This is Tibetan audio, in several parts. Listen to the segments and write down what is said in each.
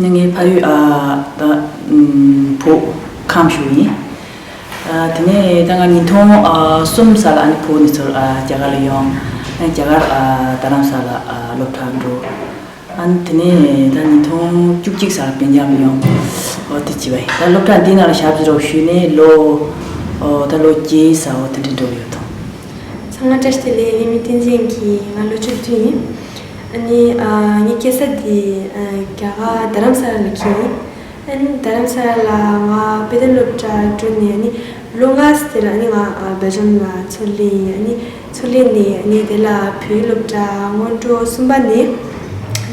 ནི་ངའི་ཕ་ཡུལ་ཨ་བུ་ཁམས་ཤུལ་ཡིན། དེ་ནས་ད་ང་ཉིས་སྟོང་གསུམ་ཟག་ལ་ཨ་ནེ་བུ་ནི་ཚོར་རྒྱ་གར་ལ་ཡོང། རྒྱ་གར་རྡ་རམ་ས་ལ་སློབ་གྲྭར་འགྲོ། དེ་ནས་ད་ཉིས་སྟོང་བཅུ་གཅིག་ཟག་ལ་བན་རྒྱང་ལ་ཡོང། འོ་དེ་བྱས་པ་ཡིན། ད་སློབ་གྲྭ་འདི་ནང་ལ་ཞབས་འདྲེན་ཞུས་ནས་ལོ། ད་ལོ་བརྒྱད་ས་འོ་དེ་འདྲ་འགྲོ་གི་ཡོད་དོ། ཚང་མ་བཀྲ་ཤིས་བདེ་ལེགས་ལྷད་མེད་བསྟན་འཛིན་གྱིས་ང་ལོ་བཅུ་བདུན་ཡིན། ཨ་ནི། ངའི་སྐྱེས་ས་དེ་རྒྱ་གར་རྡ་རམ་ས་ལ་ལ་ཁྱི་ཡིན། ཨ་ནི་རྡ་རམ་ས་ལ་ལ་ང་དཔེ་ལྡན་སློབ་གྲྭར་བསྐྲུན་ནས་ཨ་ནི་ལོ་ལྔ་ཟེར་ཨ་ནི་ང་སྦེལ་ཇམ་ལ་ཚུར་ལེན་ཡིན་ཨ་ནི་ཚུར་ལེན་ནས་ངས་དེ་ལ་བོད་ཡིག་སློབ་གྲྭ་སྔོན་འགྲོ་གསུམ་པ་ནས་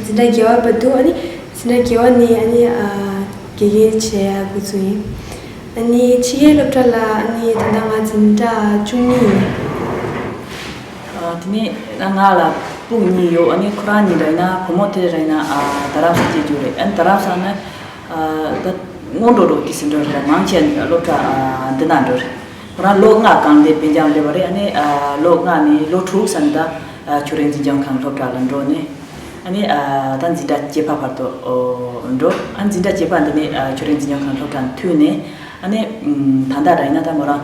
འཛིན་གྲྭ་བརྒྱད་བར་བ་འདུག་ཨ་ནི་འཛིན་གྲྭ་བརྒྱད་བ་ནས་ཨ་ནི་དགེ་རྒན་བྱས་དགོས་ཚུལ་ཡིན། ཨ་ནི་ཕྱི་རྒྱལ་སློབ་གྲྭ་ལ་ཨ་ནི་ད་ལྟ་ང་འཛིན་གྲྭ་བཅུ་གཉིས་ཡིན། དེ་ནས་ང་ལ་སྤུན་གཉིས་ཡོད་ཨ་ནི་ཁོ་རང་གཉིས་རེད་ན་བུ་མོ་དེ་རེད་ན་རྡ་རམ་ས་སྐྱེས་རྒྱུ་རེད་ཨ་ནི་རྡ་རམ་ས་ནི་ད་སྔོན་འགྲོ་འགྲོ་དུས་སུ་འགྲོ་རེད་མང་ཆེ་སློབ་གྲྭ་འདི་ན་འགྲོ་རེད་ཁོ་རང་ལོ་ལྔ་གང་འདས་བོད་འབྱམས་སླེབས་པ་རེད་ཨ་ནི་ལོ་ལྔ་ནས་ལོ་དྲུག་ས་ནི་ད་ཆུ་རེན་འཛིན་སྐྱོང་ཁང་སློབ་གྲྭ་ལ་འགྲོ་ནས་ཨ་ནི་ད་འཛིན་གྲྭ་བརྒྱད་པ་བར་དུ་འགྲོ་ཨ་ནི་འཛིན་གྲྭ་བརྒྱད་པ་འདི་ནས་ཆུ་རེན་འཛིན་སྐྱོང་ཁང་སློབ་གྲྭ་ནས་འཐུས་ནས་ཨ་ནི་ད་ལྟ་རེད་ན་ད་ངོས་རང་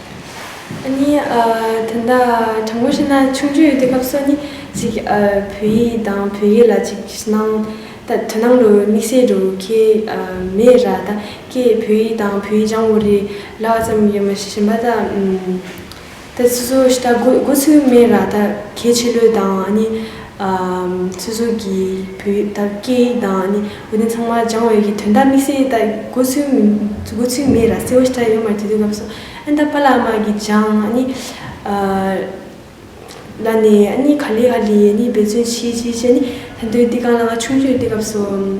གཉིས། དེ་འདྲ་དྲང་པོ་ཤེས་ན་ཆུང་དུས་དུས་སྐབས་སུ་ནི་ཅིག་བོད་ཡིག་དང་བོད་སྐད་ལ་ཅིག་སྣང་ད་དོན་སྣང་ལུགས་དམིགས་བསལ་འགྲོ་མཁན་མེད་ར་ད་ཀས་བོད་ཡིག་དང་བོད་ཡིག་སྦྱང་བོ་རེ་ལ་བ་ཙམ་རེ་མ་བྱིན་པ་ད་ད་སུ་སུ་ཞིག་ད་དགོས་ཚུལ་མེད་ར་ད་གལ་ཆེ་ལོས་དང་ནི། ཚོད་ཟུར་གྱིས་བོད་ཡིག་དར་རྒྱས་དང་ནི་དགོན་སྡེ་ཚང་མ་སྦྱང་བའི་ཡི་དོན་དག་དམིགས་བསལ་ལྟར་དགོས་ཚུལ་དགོས་ཚུལ་མེད་ར་སེ་བོ་ཤྲཱི་ཡོད་མ་བྱེད་དུས་སྐབས་སུ་ཨན་ད་པ་ལ་མ་གི་སྦྱང་ནི་ལ་ནི་ནི་ག་ལི་ག་ལི་ནི་འབད་བརྩོན་བྱེད་བྱེད་བྱེད་ནི་ད་དུས་དེ་གང་ལ་ང་ཆུང་ཆུང་ཡོད་དུས་སྐབས་སུ།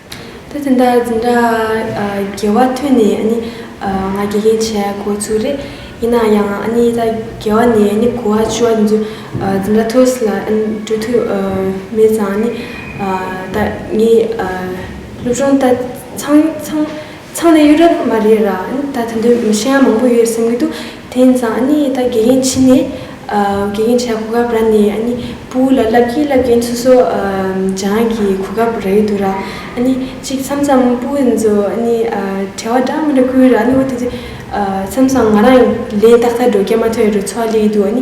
ད་དེ་འདྲ་འཛིན་གྲྭ་རྒྱལ་བ་ཐོན་ནས་ཨ་ནི་ང་དགེ་རྒན་བྱས་གོ་ཚུལ་རེད། ཡིན་ན་ཡང་ཨ་ནི་ད་རྒྱལ་བ་ནས་ཨ་ནི་གོ་བ་ཆུ་བ་དེ་ཚོ་འཛིན་གྲྭ་ཐོས་སི་ལ་ཨ་ནི་འགྲོ་ཐུ་མེད་ཙང་ཨ་ནི་ད་ངའི་སློབ་སྦྱོང་ད་ཚང་ཚང། ཚང་ནི་གཡུ་རབས་མ་རེད་རང་ད་དེ་འདོད་མི་ཤེས་ན་མང་པོ་ཡོད་སེམས་གི་འདུག་དེ་ཡིན་ཙང་ནི་ད་དགེ་རྒན་ཕྱི་ནས་དགེ་རྒན་ཆགས་གོ་སྐབས་ར་ནི་ནི་པུའུ་ལ་བསླབ་ཀྱིན་བསླབ་ཀྱིན་སོ་སོ་སྦྱང་གི་གོ་སྐབས་ར་ཡོད་འདུག་ར་ནི་གཅིག་མཚམས་མཚམས་པུའུ་ཚོ་ནི་བྲེལ་བ་འདྲ་མི་འདྲ་ཁུལ་ར་ནི་འོ་དེ་དེ་མཚམས་མཚམས་ང་རང་ལས་ཏག་ཏག་འགྲོ་སྐྱལ་མ་ཐོན་རུ་ཚོ་ལས་ཡོད་འདུག་ནི་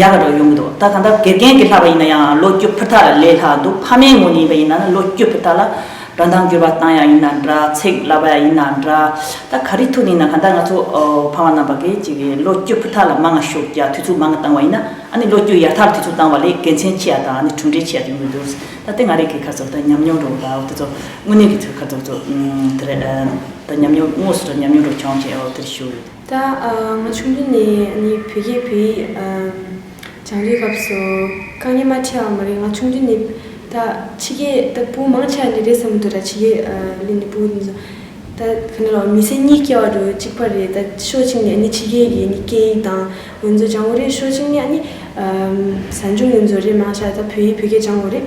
ཡག་རོགས་ཡོང་གི་འདུག་ད་གང་ལྟར་དགེ་རྒན་གྱི་ལྷག་པ་ཡིན་ན་ཡང་ལོ་རྒྱུས་ཕུ་ཐག་ལས་ལྷག་འདུག་ཕ་མའི་ངོས་ནས་ཡིན་པ་ཡིན་ན་ནི་ལོ་རྒྱུས་ཕུ་ཐག་ལ་སྒྲོ་མདངས་བསྒྱུར་བ་བཏང་ཡག་ཡིན་ན་འདྲ་ཚེགས་ལབ་པ་ཡག་ཡིན་ན་འདྲ་ད་ག་རེ་ཐུག་ནས་ཡིན་ན་གང་ལྟར་ང་ཚོ་ཕ་མ་རྣམས་པ་གིས་ཅིག་ལོ་རྒྱུས་ཕུ་ཐག་ལ་མ་ང་ཞུགས་རྒྱག་དུས་ཚོད་མ་ང་བཏང་བ་ཡིན་ན་ཨ་ནི་ལོ་རྒྱུས་ཡག་ཐག་ལ་དུས་ཚོད་བཏང་བ་ལས་དགེ་མཚན་ཆེ་ཡག་དང་ཨ་ནི་གྲུབ་འབྲས་ཆེ་ཡག་དེ་ཡོང་གི་འདུག་ད་དེ་ང་རེ་གི་ཁ་ཚོ་ད་ཉམས་མྱོང་རོགས་ད་དེ་ཚོ་དངོས་གནས་ཀྱི་ཚོ་ཁ་ཚོ་ཚོ་དེ་རེད་ད་ཉམས་མྱོང་དངོས་སུ་ད་ཉམས་མྱོང་རོགས་བྱུང་ཞེས་འོ་དེ་རེད་ཞུ། ད་ང་ཆུང་དུས་ནས་ནི་བོད་སྐད་བོད་ཡིག་སྦྱང་དུས་སྐབས་སུ་དཀའ་ངལ་མ་འཕྲད་བ་མ་རེད་ང་ཆུང་དུས་ནི་ད་ཕྱི་སྐད་ད་སྤུ་མང་ཆགས་ནི་རེད་བསམ་མི་འདུག་ད་ཕྱི་སྐད་ནི་སྤུ་ནི་ད་ག་ནས་ལོག་མི་སེར་གཉིས་སྐྱེ་བ་རུ་གཅིག་པ་རེད་ད་ཕྱོགས་གཅིག་ནས་ནི་ཕྱི་སྐད་ཡིག་ནི་སྐད་ཡིག་དང་ཡོན་རྫོ་སྦྱང་འོ་རེད་ཕྱོགས་གཅིག་ནས་ནི་ཟ་འཇུག་ཡོན་རྫོ་རེད་མང་ཆགས་ད་བོད་ཡིག་བོད་སྐད་སྦྱང་འོ་རེད།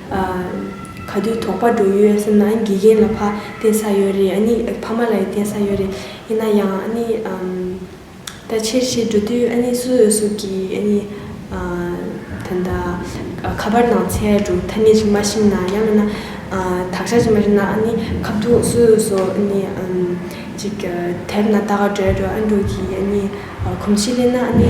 ག་དུས་དོགས་པ་འགྲོ་ཡོད་སེམས་ན་དགེ་རྒན་ལ་ཕ་བསྟེན་ས་ཡོད་རེད་ཨ་ནི་ཕ་མ་ལ་ཡི་བསྟེན་ས་ཡོད་རེད་ཡིན་ན་ཡང་ཨ་ནི་ད་ཕྱིར་ཕྱིར་འགྲོ་དུས་ཨ་ནི་སུ་ཡོད་སུ་གྱིས་ཨ་ནི་ད་ནི་ཁ་པར་ནང་ཚེ་འགྲོ་ཐ་སྙད་ཅིག་མ་ཤེས་ན་ཡང་མིན་ན་དག་ཆ་ཅིག་མ་ཤེས་ན་ཨ་ནི་ཁ་བརྡུང་སུ་ཡོད་སུ་ཨ་ནི་ཅིག་དེབ་ན་ལྟ་ག་འདྲ་འདྲ་ཨ་འགྲོ་གྱིས་ཨ་ནི་གོམས་ཤིག་གླེང་ན་ཨ་ནི་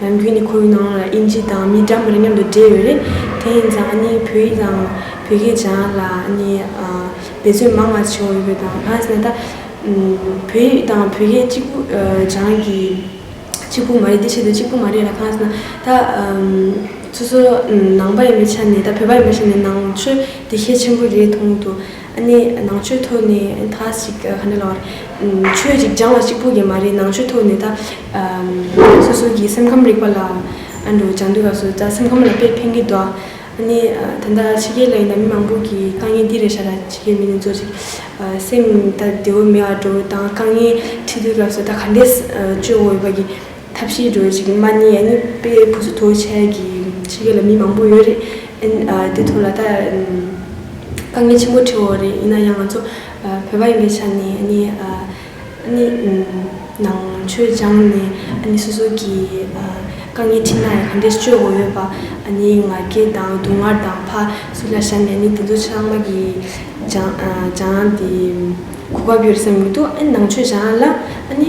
ལམ་བུའི་ནི་ཁོའི་ནང་ལ་དབྱིན་ཇི་དང་མི་འདྲ་མིན་མཉམ་དུ་སྦྲེལ་ཡོད་རེད། དེ་ཡིན་ཙང་ནི་བོད་ཡིག་དང་བོད་སྐད་སྦྱང་ཡག་ལ་ནི་འབད་བརྩོན་མང་བ་བྱེད་འོས་པའི་དང་ལྷག་བསམ་ན་ད་བོད་ཡིག་དང་བོད་སྐད་གཅིག་པུ་སྦྱང་གི་གཅིག་པུ་མ་རེད་དེ་ཆེད་དུ་གཅིག་པུ་མ་རེད་ལ་ཁ་སང་ན་ད་སོ་སོ་ནང་པ་ཡིན་པའི་ཆ་ནས་ད་བོད་པ་ཡིན་པའི་ཆ་ནས་ནང་ཆོས་དེ་ཤེས་ཆེན་པོ་རེད་མཐོང་དུ། གནས་ནང་ཆོས་ཐོག་ནས་ད་ཞིག་ག་འདྲ་ལགས། ཆོས་གཅིག་སྦྱང་བ་གཅིག་པོ་ཡིན་མ་རེད་ནང་ཆོས་ཐོག་ནས་ད། སོ་སོ་གི་སེམས་ཁམས་རིག་པ་ལ་ཨ་འགྲོ་སྦྱང་འདོད་པ་ཚོ་ད་སེམས་ཁམས་ལ་དཔེ་ཕན་གི་འདུག་གནས་ད་ལྟ་ཕྱི་རྒྱལ་ལ་ཡིན་ན་མི་མང་པོ་གི་དཀའ་ངལ་འདི་རེད་ཤ་ད་ཕྱི་རྒྱལ་མི་ནི་ཚོ་ཅིག་སེམས་ད་བདེ་བོ་མེད་ཨ་འགྲོ་ད་དཀའ་ངལ་འཕྲད་དུས་ལགས་སོ་ད་ག་འདྲས་སྤྱོད་འོ་ཡོད་པ་གི། ཐབས་ཤེས་སྒྲོལ་ཅིག་མ་ནི་ཨ་ནི་པའི་བུ་ཚོ་ཐུགས་ཆེ་ཡ་གི་ཕྱི་རྒྱལ་ལ་མི་མང་པོ་ཡོད་རེད་དེ་ཐུགས་ལ་ད་དཀའ་ངལ་ཆེན་པོ་འཕྲད་འོག་རེད་ཡིན་ན་ཡང་ང་ཚོ་བོད་པ་ཡིན་པའི་ཆ་ནས་ཨ་ནི་ཨ་ནི་ནང་ཆོས་སྦྱངས་ནས་ཨ་ནི་སོ་སོ་གི་དཀའ་ངལ་འཕྲད་ན་ཡང་ག་འདྲས་སྤྱོད་དགོས་ཡོད་པ་ཨ་ནི་ང་རྒྱལ་དང་སྡུག་བསྔལ་དང་ཕ་སུ་ལ་བཞག་ནས་ཨ་ནི་དེ་ཚོ་ཆ་ཚང་མ་གི་སྦྱངས་སྦྱངས་དེ་གོ་སྐབས་ཡོད་སེམས་མི་འདུག་ཨ་ནི་ནང་ཆོས་སྦྱངས་ལ་ཨ་ནི་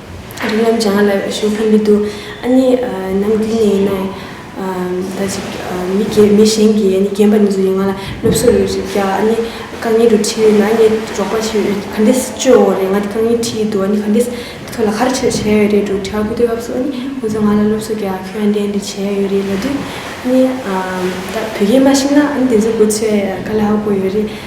རིགས་རྣམས་ཀྱང་ལ་ཞོ་ཕན་མི་འདུག་ཨ་ནི་ནམ་རྒྱུན་ནས་ཡིན་ནའི། ད་ཅིག་མི་དགེ་མི་གཞན་གྱིས་ཨ་ནི་རྒན་པ་ནི་ཚོ་ཡིས་ང་ལ་སློབ་གསོ་ཡོད་ཅེས་བསྐྱར་ཨ་ནི་རྐང་གཉིས་རུ་ཁྲིད་ཡོད་ན་ཨ་ནི་འབྲོག་པ་ཆེ་བས་ག་འདྲས་སྤྱོད་འོང་བ་རེད་ང་དེ་རྐང་གཉིས་ཁྲིད་ཡི་འདུག་ཨ་ནི་ག་འདྲས་ཁྱོད་ལ་ག་རེ་བྱས་ཡོད་རེད་འདུག་དྲི་བ་ཕུ་ཐོན་སྐབས་སུ་ཨ་ནི་ཁོ་ཚོས་ང་ལ་སློབ་གསོ་རྒྱག་ཁྱོད་ཨ་འདྲས་འདྲས་བྱས་ཡོད་རེད་ལབ་དུས་ཨ་ནི་ད་བོད་སྐད་མ་ཤེས་ན་ཨ་ནི་དེ་ཚོ་གོ་ཆོད་ཡ་ག་ལ་ཧ་གོ་ཡོད་རེད།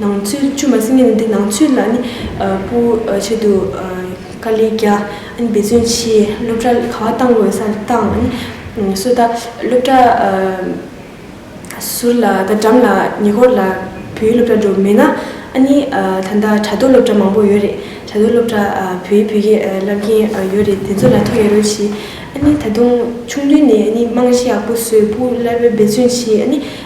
ནང་ཆོས་བཅོས་མ་ཟིན་ངེས་ནི་འདི་ནང་ཆོས་ལ་ནི་པོ་ཆེད་དུ་ཀཱ་ལི་རྒྱ་འབད་བརྩོན་བྱས་སློབ་གྲྭ་ག་བ་བཏང་དགོས་ས་བཏང་ནི་སོ་ད་སློབ་གྲྭ་ཟུར་ལ་ད་གྲམ་ལ་ཉེ་འཁོར་ལ་བོད་ཡིག་སློབ་གྲྭ་འགྲོ་མེད་ན་ཨ་ནི་ད་ལྟ་དྲ་ཐོག་སློབ་གྲྭ་མང་པོ་ཡོད་རེད་དྲ་ཐོག་སློབ་གྲྭ་བོད་ཡིག་བོད་སྐད་བསླབ་མཁན་ཡོད་རེད་དེ་ཚོ་ལ་ཐུགས་ཡ་རོལ་གྱིས་ཨ་ནི་ད་དུང་ཆུང་དུས་ནས་ཨ་ནི་རྨང་གཞི་ཡག་པོ་བཟོས་པོ་སླར་འབད་བརྩོན་བྱས་ཨ་ནི་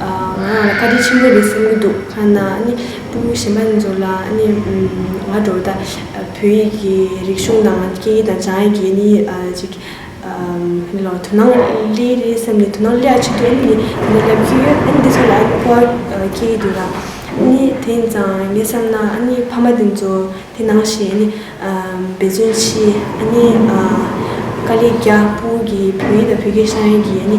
ང་རང་ལ་བཀའ་དྲིན་ཆེན་པོ་རེད་བསམ་གྱི་འདུག་ཁ་ན་ནི་སྤུན་མོ་གཞན་པ་ཚོ་ལ་ནི་ང་འདྲ་བོ་ད་བོད་ཡིག་གི་རིག་གཞུང་དང་སྐད་ཡིག་དང་བྱང་ཡིག་གི་ནི་ཅིག་དེ་ལ་དོ་སྣང་སླེ་རེད་བསམ་ནས་དོ་སྣང་སླེ་ཡག་ཆེད་དུ་ཨེ་ནི་འདི་སླེབས་ཀྱི་ཡོད་ཨེ་ནི་འདི་ཚོ་ལ་ཨེ་གོ་བ་སྐྱེ་ཡི་འདུག་ད་ནི་དེ་ཡིན་ཙང་ངས་བསམ་ན་ཨ་ནི་ཕ་མ་དེ་ཚོ་དེ་ནང་བཞིན་ཨ་ནི་འབད་བརྩོན་གྱིས་ཨ་ནི་དཀའ་ལས་རྒྱག་སྤུན་གྱི་བོད་ཡིག་དང་བོད་སྐད་བྱང་ཡིག་གི་ཨ་ནི་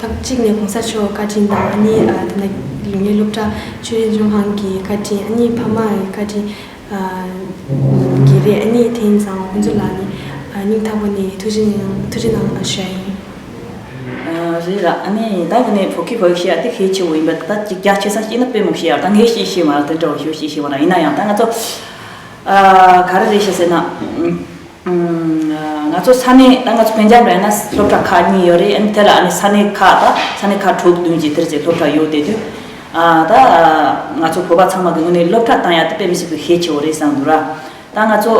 ཐབས་གཅིག་ནི་གོང་ས་མཆོག་བཀའ་དྲིན་དང་ཨ་ནེ་དེ་འདྲ་ཡོད་ནི་སློབ་གྲྭ་ཆོས་རིག་ལྗོན་ཤང་གི་བཀའ་དྲིན་ཨ་ནེའི་ཕ་མ་ཡི་བཀའ་དྲིན་གྱིས་རེད་ཨ་ནེ་དེང་སང་ཁོང་ཚོ་ལ་ནི་སྙིང་ཐག་པ་ནས་ཐུགས་རྗེ་གནང་བཞག་ཡིན། རེད་ལགས་ཨ་ནེ་ཡིན་ད་གི་ནི་བོད་ཀྱི་བོད་ཤེས་ཡག་དེ་ཤེས་ཆེ་བོ་ཡིན་པ་ད་ལྟ་རྒྱ་ཆེ་སར་སྐྱེས་ན་དཔེ་མོ་ཤེས་ཡག་ད་ངས་ཤེས་ཤེས་མ་རེད་དོན་དྲ་བ་ཤོས་ཤེས་ཤེས་མ་རེད་ཡིན་ན་ཡང་ད་ང་ཚོ་ག་རེ་རེད་ཤེས་ཟེར་ན། ང་ཚོ་ས་གནས་ད་ང་ཚོ་བོད་འཇམ་རེད་ན་སློབ་གྲྭ་ཁག་གཉིས་ཡོད་རེད་དེ་ལ་ཨ་ནི་ས་གནས་ཁག་ད་ས་གནས་ཁག་དྲུག་བདུན་གྱི་དེར་ཅིག་སློབ་གྲྭ་ཡོད་དེ་དུས་ད་ང་ཚོ་བོད་པ་ཚང་མ་གི་ངོས་ནས་སློབ་གྲྭ་དང་ཡང་དེ་དཔེ་མི་སྲིད་པའི་ཤས་ཆེ་བོ་རེད་བསམ་འདུག་ར་ད་ང་ཚོ་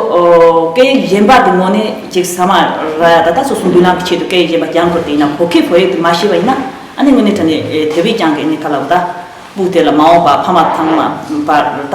སྐད་ཡིག་གཞན་པ་དེ་ངོ་ནས་ཅིག་ས་མ་ར་ཡ་ད་ད་སོ་སོ་འདུས་ལམ་གྱི་ཆེད་དུ་སྐད་ཡིག་གཞན་པ་རྒྱང་དགོས་དེ་ཡིན་ན་བོད་སྐད་བོད་ཡིག་དེ་མ་ཤེས་པ་ཡིན་ན་ཨ་ནི་ངོས་ནས་དྲན་ནས་དེ་བས་ཀྱང་གི་ཨ་ནི་ཁ་ལ་བུ་ད་སྤུག་དེ་ལ་མ་འོངས་པ་ཕ་མ་ཚང་མ་པར་ད།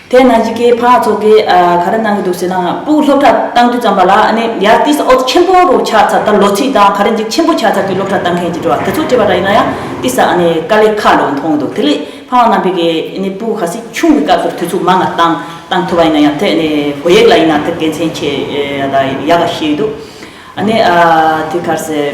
དེ་ན་ཡི་གེ་འཕགས་ཚོགས་ཀྱིས་ག་རེ་གནང་གི་འདུག་ཟེར་ན་དབུགས་སློབ་གྲྭ་གཏང་དུས་ཙམ་པ་ལ་ནི་ཡར་ཏིས་ཨོལ་ཆེན་པོ་རུ་ཆགས་ཚར་ད་ལོ་ཚིགས་དང་ག་རེ་འཇིག་ཆེན་པོ་ཆགས་ཚར་གྱི་སློབ་གྲྭ་གཏང་མཁན་གྱི་འགྲོ་བ་དེ་ཚོ་བྲིས་པ་ར་ཡིན་ན་ཡང་ཏིས་ཨ་ནི་དཀའ་ལས་ཁག་ལོ་མཐོང་འདུག་དེ་ལས་འཕགས་རྣམ་པས་ཀྱི་ནི་སྤུ་ག་སྲིད་ཆུང་གི་སྐབས་སུ་དུས་ཚོད་མང་ང་གཏང་གཏང་ཐུབ་པ་ཡིན་ན་ཡང་དེ་ནི་བོད་ཡིག་ལ་ཡིན་ན་དེ་དགེ་མཚན་ཆེ་ད་ཡག་ག་ཤེས་ཡོད་འདུག་ཨ་ནི་ཨ་ཐིས་ག་རེ་ཟེར།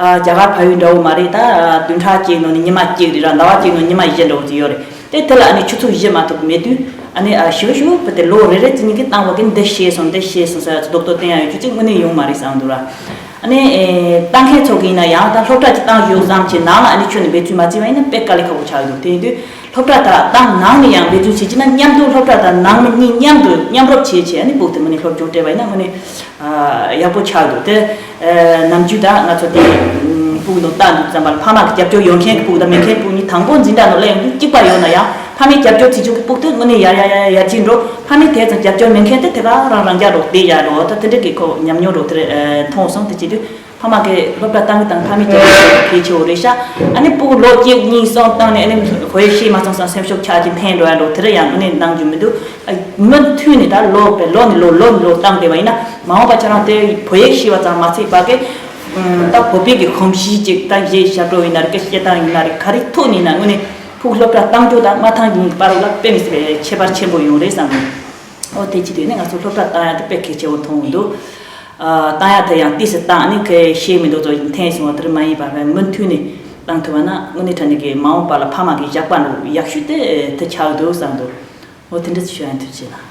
རྒྱ་གར་ཕ་ཡུལ་འདྲ་བོ་མ་རེད་ད། བདུན་ཕྲག་གཅིག་ནང་ནས་ཉི་མ་གཅིག་རེད་ར་ཟླ་བ་གཅིག་ནང་ཉི་མ་བཞི་འདྲ་བོ་ཅིག་ཡོད་རེད་དེ་དེ་ལ་ཨ་ནི་ཆུ་ཚོད་བཞི་མ་ཐུབ་མེད་དུས་ཨ་ནི་ཞུ་ཞུ་བུ་དེ་ལོ་རེ་རེ་ཙི་ཉིན་གྱི་གཏང་བ་གིས་འདི་ཤེས་སོང་འདི་ཤེས་སོང་ཟེར་བ་ཚོ་རྡོག་རྡོག་བསྟན་ཡ་ཡོད་ཆུ་ཚོད་དངོས་གནས་ཡོང་མ་རེད་བསམ་འདུག་ར་ཨ་ནི། གཏང་མཁན་ཚོགས་ཀྱི་ཡིན་ན་ཡང་ད་སློབ་གྲྭ་གཅིག་གཏང་ཞོར་བསམ་གྱི་ནང་ལ་ཨ་ནི་ཁྱོད་ནི་འབད་ཚུལ་མ་བརྩི་བ་ཡིན་ན་དཔེ་དཀའ་ལས་ཁག་པོ་ཆགས་འདུག་དེ་ཡིན་དུས། སློབ་གྲྭ་དག་དང་ནང་མི་ཡང་འབད་བརྩོན་བྱེད་ཀྱི་ན་མཉམ་དུ་སློབ་གྲྭ་དང་ནང་མི་གཉིས་མཉམ་དུ་མཉམ་རོབ་བྱེད་བྱས་ནི་བུག་དེ་མོ་ནི་སློབ་སྐྱོར་སྤྲད་པ་ཡིན་ན་མོ་ནི་ཡག་པོ་ཆགས་འདུག་དེ་ནམ་རྒྱུན་དག་ང་ཚོ་དེ་བུག་ནོར་བཏགས་འདུག་རྩམ་པར་ཕ་མ་གི་རྒྱབ་སྐྱོར་ཡོད་མཁན་གི་བུག་དང་མེད་མཁན་གི་བུག་གཉིས་དང་པོ་འཛིན་གྲྭ་ནོར་ལས་ཡོང་རྒྱུ་གཅིག་པ་ཡོད་ན་ཡང་ཕ་མའི་རྒྱབ་སྐྱོར་བྱེད་བཅུག་གི་བུག་དེ་མོ་ནི་ཡར་ཡར་ཡར་ཕྱིན་འགྲོ་ཕ་མའི་དེ་ཙམ་རྒྱབ་སྐྱོར་མེད་མཁན་དེ་དེ་ག་རང་རང་རྒྱག་རོགས་དེ་ཡར་འགྲོ་ད་དེ་འདྲ་གི་ཁོ་ཉམས་མྱོང་རོགས་དེར་མཐོང་སོང་དེ་བྱེད་དུས་ཕ་མ་གིས་སློབ་གྲྭ་གཏང་གི་དང་ཕ་མས་སྐྱེལ་ཐུབ་ཀྱི་གལ་ཆེ་བོ་རེད་ཤག་ཨ་ནི་སྤུ་གུ་ལོ་གཅིག་གཉིས་གསུམ་བཏང་ནས་ཨ་ནི་བོད་ཡིག་ཤེས་མ་སོང་སོང་སེམས་ཤུགས་ཆག་ཅིང་ཕན་འགྲོ་ཡ་འགྲོ་དེ་རིང་ཡང་ཨ་ནི་གནང་རྒྱུ་མི་འདུག་མི་མཐུན་ནས་ད་ལོ་བས་ལོ་ནས་ལོ་ལོ་ནས་ལོ་བཏང་བསྡད་པ་ཡིན་ན་མ་འོངས་པ་ཁྱེད་རང་དེ་བོད་ཡིག་ཤེས་པ་ཙམ་མ་ཚིག་བ་གས་ད་བོད་པའི་གི་གོམས་གཤིས་ཅིག་ད་གཞས་ཞབས་བྲོ་ཡིན་ན་རེ་ཀ་བཤད་སྟངས་ཡིན་ན་རེ་ག་རེ་ཐུག་ནས་ཡིན་ན་ཨ་ནི་ཕུག་སློབ་གྲྭ་གཏང་རྒྱུ་དང་མ་ཐང་རྒྱུའི་པར་བ་ལ་དཔེ་མི་སྲིད་པའི་ཁྱད་པར་ཆེན་པོ་ཡོང་རེད་བསམ་གི་འོ་དེ་ཅི་དེ་ནས་ང་ཚོ་སློབ་གྲྭ་གཏང་ཡ་དེ་དཔེ་གལ་ཆེ་བོ་མཐོང་གི་འདུག། བཏང་ཡག་དེ་ཡང་དུས་སུ་བཏང་ནི་ཁོས་ཤེས་མི་འདུག་ཚོ་ཞིང་འཐེན་སོང་བ་དེར་མ་ཡིན་པར་མུ་མཐུད་ནས་བཏང་ཐུབ་པ་ན་དངོས་གནས་ཁྲ་ནི་གི་མ་འོངས་པ་ལ་ཕ་མ་གིས་བཞག་པ་འདུག་ཡག་ཤོས་དེ་དེ་ཆགས་འདུག་བསམ་འདུག་ངོ་དེ་འདྲ་ཚོ་ཤོད་ཡང་ཐུབ་ཅེ་ན།